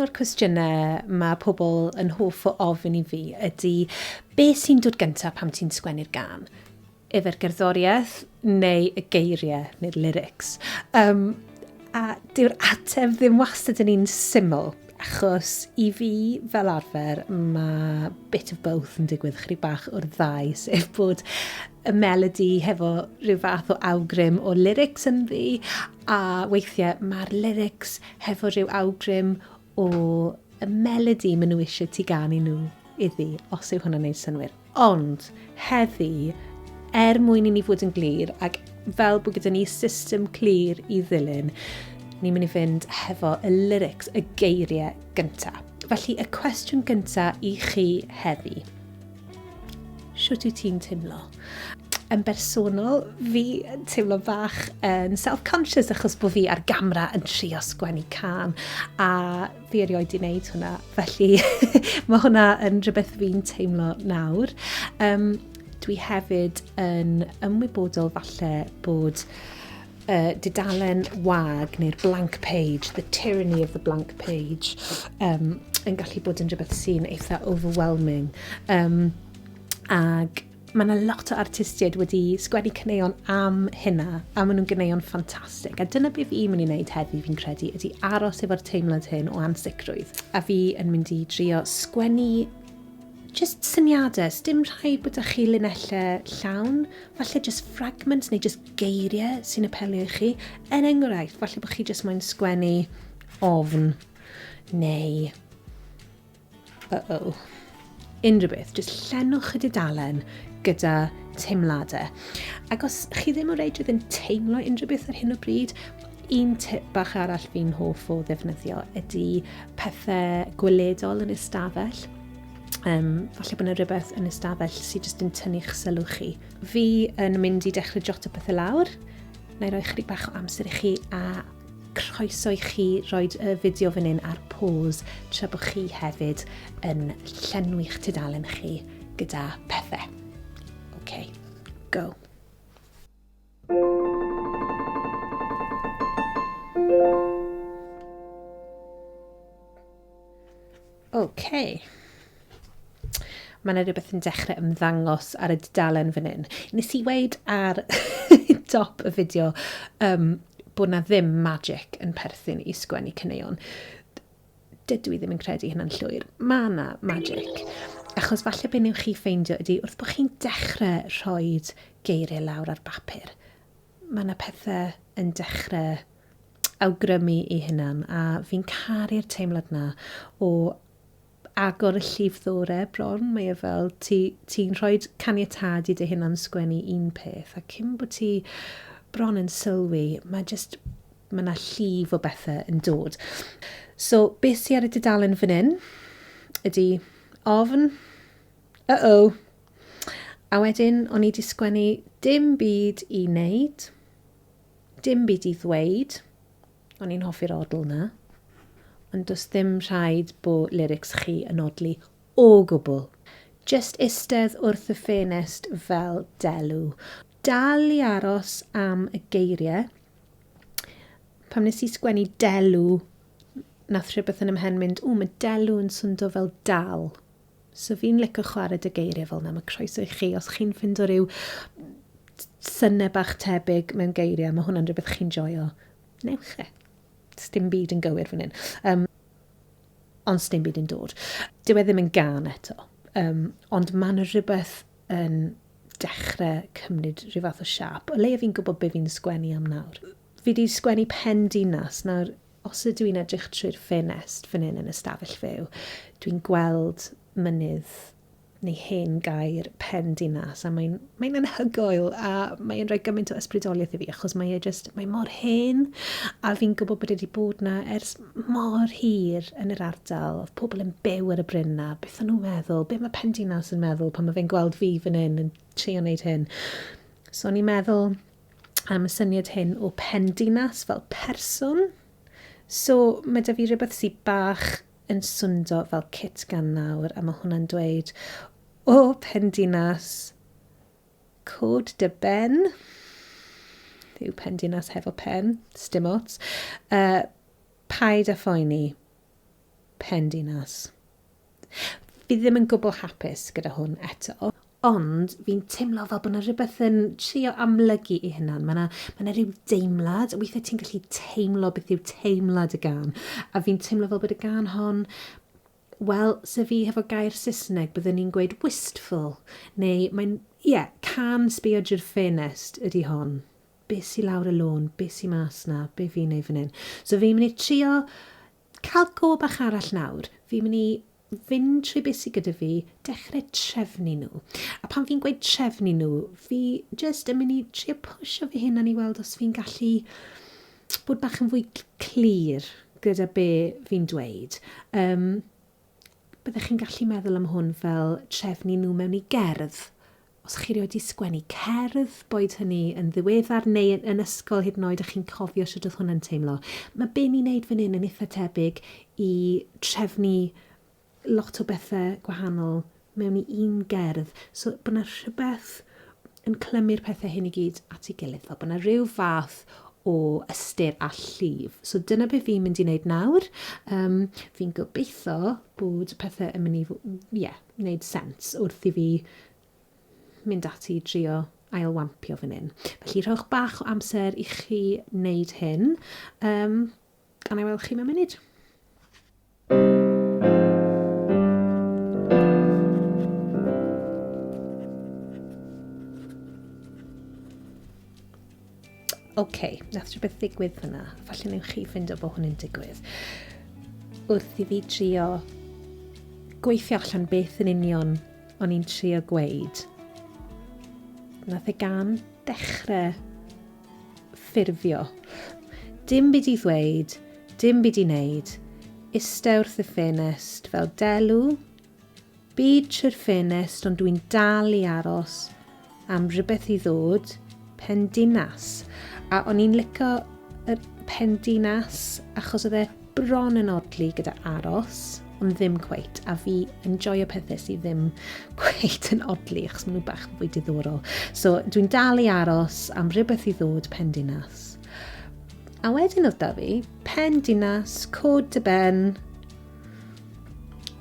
un o'r cwestiynau mae pobl yn hoff o ofyn i fi ydy be sy'n dod gyntaf pam ti'n sgwennu'r gan? Efer gerddoriaeth neu y geiriau neu'r lyrics? Um, a dyw'r ateb ddim wastad yn un syml. Achos i fi, fel arfer, mae bit of both yn digwydd chryb bach o'r ddau, sef bod y melody hefo rhyw fath o awgrym o lyrics yn ddi, a weithiau mae'r lyrics hefo rhyw awgrym o y melody maen nhw eisiau ti ganu nhw iddi, os yw hwnna'n wneud synnwyr. Ond, heddi, er mwyn i ni fod yn glir, ac fel bod gyda ni system clir i ddilyn, ni'n mynd i fynd hefo y lyrics, y geiriau gyntaf. Felly, y cwestiwn gyntaf i chi heddi. Siwt i ti'n teimlo? yn bersonol, fi yn teimlo bach yn self-conscious achos bod fi ar gamera yn trio sgwennu can a fi erioed di wneud hwnna, felly mae hwnna yn rhywbeth fi'n teimlo nawr. Um, dwi hefyd yn ymwybodol falle bod uh, didalen wag neu'r blank page, the tyranny of the blank page, um, yn gallu bod yn rhywbeth sy'n eitha overwhelming. Um, ag Mae yna lot o artistiaid wedi sgwennu caneuon am hynna, a maen nhw'n ganeuon ffantastig. A dyna beth fi'n mynd i wneud heddi, fi'n credu, ydy aros efo'r teimlad hyn o ansicrwydd. A fi yn mynd i drio sgwennu just syniadau, dim rhai bod â chi linellau llawn, falle just fragments neu just geiriau sy'n apelio i chi. Er enghraifft, falle bod chi just moyn sgwennu ofn neu Uh-oh. Unrhyw beth, jyst llenwch y dudalen gyda teimladau. Ac os chi ddim o reidrwydd yn teimlo unrhyw beth ar hyn o bryd, un tip bach arall fi'n hoff o ddefnyddio ydy pethau gweledol yn ystafell. Um, falle bod yna rhywbeth yn ystafell sydd jyst yn tynnu'ch sylw chi. Fi yn mynd i dechrau jot o pethau lawr. Na i roi chydig bach o amser i chi a Croeso i chi roed y fideo fan hyn ar pause tra bod chi hefyd yn llenwi'ch tudalen chi gyda pethe. Ok, go. Ok. Mae 'na rhywbeth yn dechrau ymddangos ar y dudalen fan hyn. Nes i weud ar dop y fideo um, bod 'na ddim magic yn perthyn i sgwennu caneuon. Dydw i ddim yn credu hynna'n llwyr. Mae 'na magic. Achos falle be newch chi ffeindio ydy wrth bod chi'n dechrau rhoi geiriau lawr ar bapur, mae yna pethau yn dechrau awgrymu i hunan a fi'n caru'r teimlad na o agor y llif ddore bron, mae e fel ti'n ti rhoi caniatad i dy hunan sgwennu un peth a cyn bod ti bron yn sylwi, mae jyst mae yna llif o bethau yn dod. So, beth sy'n ar y dudalen fan hyn ydy ofn, uh-oh, a wedyn o'n i wedi sgwennu dim byd i wneud, Dim byd i ddweud, o'n i'n hoffi'r odl 'na. Ond does ddim rhaid bo' lyrics chi yn odli o gwbl. Jyst istedd wrth y ffenest fel delw. Dal i aros am y geirie. Pam nes i sgwennu delw nath rhywbeth yn 'y mhen mynd, ww ma' delw yn swndo fel dal. So fi'n lico chwarae dy geiriau fel yna, mae croeso i chi, os chi'n ffindo rhyw synnau bach tebyg mewn geiriau, mae hwnna'n rhywbeth chi'n joio, newch e. Sdim byd yn gywir fan hyn. Um, ond sdim byd yn dod. Dyw e ddim yn gan eto, um, ond mae yna rhywbeth yn dechrau cymryd rhyw fath o siap, o leia fi'n gwybod be fi'n sgwennu am nawr. Fi wedi sgwennu pen dinas, nawr Os ydw i'n edrych trwy'r ffenest fan hyn yn y stafell fyw, dwi'n gweld mynydd neu hen gaer pen dinas a mae'n mae anhygoel a mae'n rhoi gymaint o ysbrydoliaeth i fi achos mae e just, mae mor hen a fi'n gwybod bod e wedi bod na ers mor hir yn yr ardal, oedd pobl yn byw ar y bryn na, beth o'n nhw'n meddwl, beth mae pen dinas yn meddwl pan mae fe'n gweld fi fan hyn yn trio wneud hyn. So o'n i'n meddwl, am y syniad hyn o pendinas fel person. So mae da fi rhywbeth sy'n bach yn swndo fel cit gan nawr a mae hwnna'n dweud o pendinas cod dy ben yw pendinas hefo pen, stim ots. Uh, paid a phoeni, pendinas. Fi ddim yn gwbl hapus gyda hwn eto. Ond fi'n teimlo fel bod 'na rhywbeth yn trio amlygu ei hunan. Mae 'na, mae 'na rhyw deimlad, weithiau ti'n gallu teimlo beth yw teimlad y gan. A fi'n teimlo fel bod y gan hon, wel, se fi hefo gair Saesneg, byddwn ni'n gweud wistful. Neu mae'n, ie, yeah, can sbio drwy'r ffenest ydy hon. Be sy lawr y lôn, be sy mas na, be fi'n ei fan hyn. So fi'n mynd i trio Cael go bach arall nawr, fi'n mynd i fynd trwy beth sydd gyda fi, dechrau trefnu nhw. A pan fi'n gweud trefnu nhw, fi jyst yn mynd i trio pwysio fy hunan i weld os fi'n gallu bod bach yn fwy clir gyda be fi'n dweud. Um, Byddech chi'n gallu meddwl am hwn fel trefnu nhw mewn i gerdd. Os chi rioed wedi sgwennu cerdd, boed hynny yn ddiweddar neu yn, yn ysgol hyd yn oed, a chi'n cofio sut oedd hwnna'n teimlo. Mae be ni'n neud fan hyn yn eitha tebyg i trefnu lot o bethau gwahanol mewn i un gerdd. So bod yna rhywbeth yn clymu'r pethau hyn i gyd at ei gilydd, fel bod yna rhyw fath o ystyr a llif. So dyna beth fi'n mynd i wneud nawr. Um, fi'n gobeithio bod y pethau yn mynd i, ie, yeah, wneud sens wrth i fi mynd ati i drio ailwampio fan hyn. Felly rhowch bach o amser i chi wneud hyn, um, gan ei weld chi mewn munud. OK, nath rhywbeth ddigwydd fyna. Falle newch chi fynd o bod hwn yn digwydd. Wrth i fi trio gweithio allan beth yn union o'n i'n trio gweud. Nath e gan dechrau Ffurfio. Dim byd i ddweud, dim byd i wneud. Iste wrth y ffenest, fel delw. Byd trwy'r ffenest ond dwi'n dal i aros am rhywbeth i ddod. Pen dinas. A o'n i'n lico y pen dinas achos oedd e bron yn odli gyda aros, ond ddim cweit, a fi yn joio pethau sydd ddim cweit yn odli, achos maen nhw bach yn fwy diddorol. So, dwi'n dal i aros am rhywbeth i ddod pen dinas. A wedyn oedd da fi, pen dinas, cod dy ben,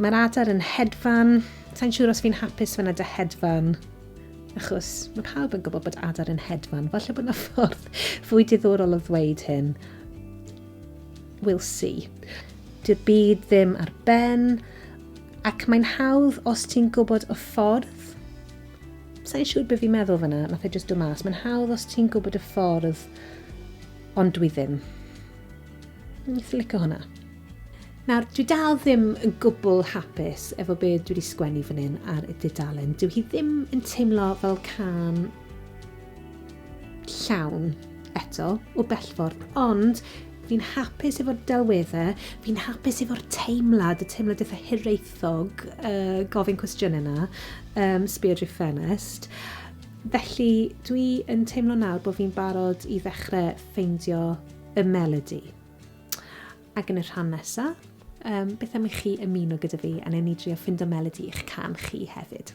mae'r adar yn hedfan, sa'n siŵr os fi'n hapus fyna dy hedfan, achos mae pawb yn gwybod bod adar yn hedfan, falle bod yna ffordd fwy diddorol o ddweud hyn, We'll see. Dy'r byd ddim ar ben, ac mae'n hawdd os ti'n gwybod y ffordd. Sa'n siŵr beth fi'n meddwl fyna, nath e just dod mas. Mae'n hawdd os ti'n gwybod y ffordd, ond dwi ddim. Ni'n fflico hwnna. Nawr, dwi dal ddim yn gwbl hapus efo be dwi wedi sgwennu fan hyn ar y dudalen. Dyw hi ddim yn teimlo fel can llawn eto o bellffordd, ond fi'n hapus efo'r delweddau, fi'n hapus efo'r teimlad, y teimlad eitha hiraethog, uh, gofyn cwestiwn yna, um, spirit ffenest. Felly, dwi yn teimlo nawr bod fi'n barod i ddechrau ffeindio y melody. Ac yn y rhan nesaf, um, beth am i chi ymuno gyda fi a newn ni drio ffindo melody i'ch can chi hefyd.